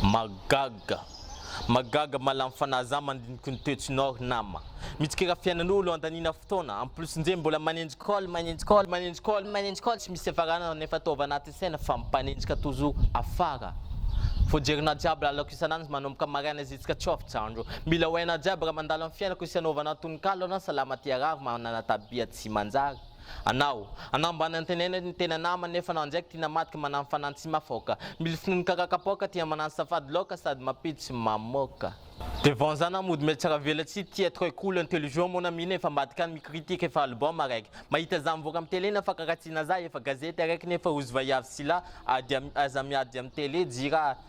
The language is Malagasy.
Mahagaga! Mahagaga mahalany fanahy za mandiniky ny toetsinao ry nama! Mitsikera fiainan'olo andaniana fotoana, en plus nge mbola manenjika call, manenjika call, manenjika call, manenjika call tsy misy fiafarana nefa ataovy anatin'ny saina fa mipanenjika toujours afara! Vao jerinao jiaby lalako isan'andro manomboka maraina ziska tsy off jandro! Mila ho hainao jiaby raha mandalo amin'ny fiainako sy hanaovana tononkalo anao salama tia rariny manana tabia tsy manjary! Anao. Anambany antenaina ny tena nama nefa anao ndraiky tina madiky manano fanano tsy mafaoka. Mily finono kaka kapoaka tia manano safady laoka sady mapiditry mamoka. De vanzana mody mety saravela tsy tia très cool intelligent mon ami nefa ambadika any mi-critique efa album araiky mahita za mivoaka am tele na fakaratsiana za efa gazety araiky nefa ozy vaiavy sy lahy ady aza miady am tele jira